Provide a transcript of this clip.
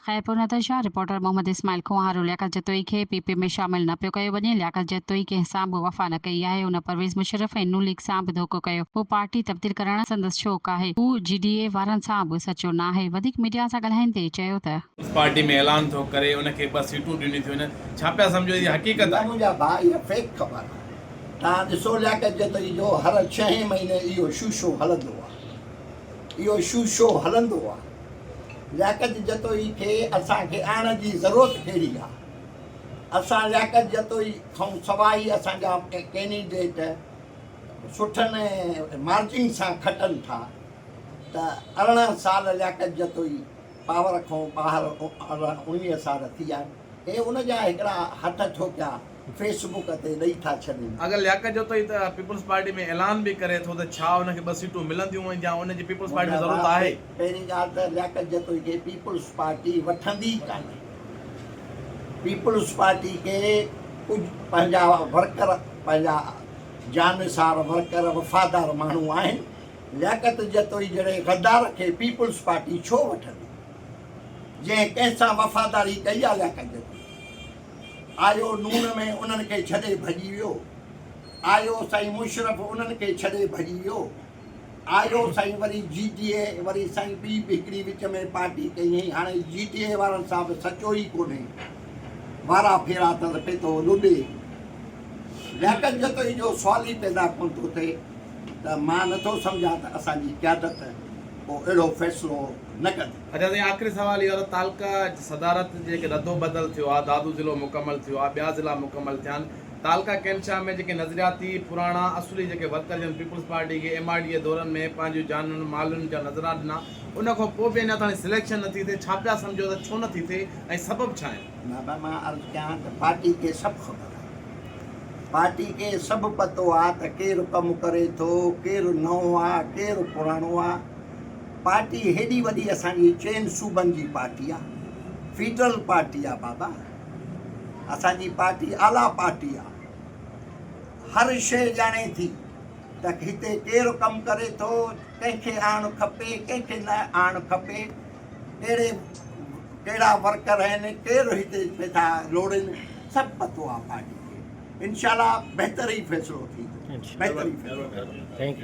Khairpur Nazar Shah, reporter Muhammad Ismail Koharo, Liaquat Jatoi کي P P ۾ شامل نه پيو ڪيو وڃي، لياقت جتوئي ڪنهن سان به وفا نه ڪئي آهي، هن پرويز مشرف ۽ ن ليگ سان به ڌوڪو ڪيو، هو پارٽي تبديل ڪرڻ سندس شوق آهي، هو جي ڊي اي وارن سان به سچو ناهي، وڌيڪ ميڊيا سان ڳالهائيندي چيو ته. پارٽي ۾ اعلان ٿو ڪري ان کي ٻه سيٽون ڏنيون ٿيون وڃن، ڇا پيا سمجهو هي حقيقت آهي. منهنجا ڀاء اها فيڪ خبر آهي توهان ڏسو لياقت جتوئي جو هر ڇهين مهيني اهو شو شو هلندو آهي اهو شو شو هلندو آهي. لياقت جتوئي کي اسان کي آڻڻ جي ضرورت ڪهڙي آ؟ اسان لياقت جتوئي کانئون سواء ئي اسان جا ڪينڊيڊيٽ سٺن مارجن سان کٽن ٿا ته ارڙهن سال لياقت جتوئي پاور کانئون ٻاهر ارڙهن اڻويهه سال ٿي آهن هي ان جا هڪڙا هٿ ڇو پيا فيس بڪ تي ڏئي ٿا ڇڏين. اگر لياقت جوتوئي ته پيپلز پارٽي ۾ اعلان به ڪري ٿو ته ڇا ان کي ٻه سيٽون ملنديون ۽ جا ان جي پيپلز پارٽي ۾ ضرورت آهي؟ پهرين ڳالهه ته لياقت جتوئي کي پيپلز پارٽي وٺندي ئي ڪانهي. پيپلز پارٽي کي ڪجهه پنهنجا ورڪر پنهنجا جانثار ورڪر وفادار ماڻهو آهن. لياقت جتوئي جهڙي غدار کي پيپلز پارٽي ڇو وٺندي؟ جنهن ڪنهن سان وفاداري ڪئي آهي لياقت جتوئي؟ آيو نون ۾ انهن کي ڇڏي ڀڄي ويو آيو سائين مشرف انهن کي ڇڏي ڀڄي ويو آيو سائين وري جي ٽي اي وري سائين ٻي به هڪڙي وچ ۾ پارٽي ڪئي هئي هاڻي جي ٽي اي وارن سان به سچو ئي ڪونهي وارا ڦيرا تل پيتو لڏي لياقت جتوئي جو سوال ئي پيدا ڪون ٿو ٿئي ته مان نٿو سمجهان ته اسان جي قيادت ڪو اهڙو فيصلو نه ڪندي اچان سائين آخري سوال اهو ته تعلقه صدارت جي رد و بدل ٿيو آهي دادو ضلعو مڪمل ٿيو آهي ٻيا ضلعا مڪمل ٿيا آهن تعلقه ڪينٽ شاهه ۾ جيڪي نظرياتي پراڻا اصولي جيڪي ورڪر جن پيپلز پارٽي کي ايم آر ڊي جي دورن ۾ پنهنجيون جانن مالن جا نذرا ڏنا ان کان پوء به اڃا تائين سليڪشن نه ٿي ٿئي ڇا پيا سمجهو ته ڇو نه ٿي ٿئي ۽ سبب ڇا آهن. بابا مان عرض ڪيان ته پارٽي کي سڀ خبر آهي پارٽي کي سڀ پتو آهي ته ڪير ڪم ڪري ٿو ڪير نئون آهي ڪير پراڻو آهي پارٽي هيڏي وڏي اسان جي چئن صوبن جي پارٽي آ فيڊرل پارٽي آ بابا اسان جي پارٽي اعليٰ پارٽي آ هر شئي ڄاڻي ٿي ته هتي ڪير ڪم ڪري ٿو ڪنهن کي آڻ کپي ڪنهن کي نه آڻ کپي ڪهڙي ڪهڙا ورڪر آهن ڪير هتي پيسا لوڙين سڀ پتو آ پارٽي کي انشاءالله بهتر ئي فيصلو ٿيندو بهتر ئي فيصلو ٿيندو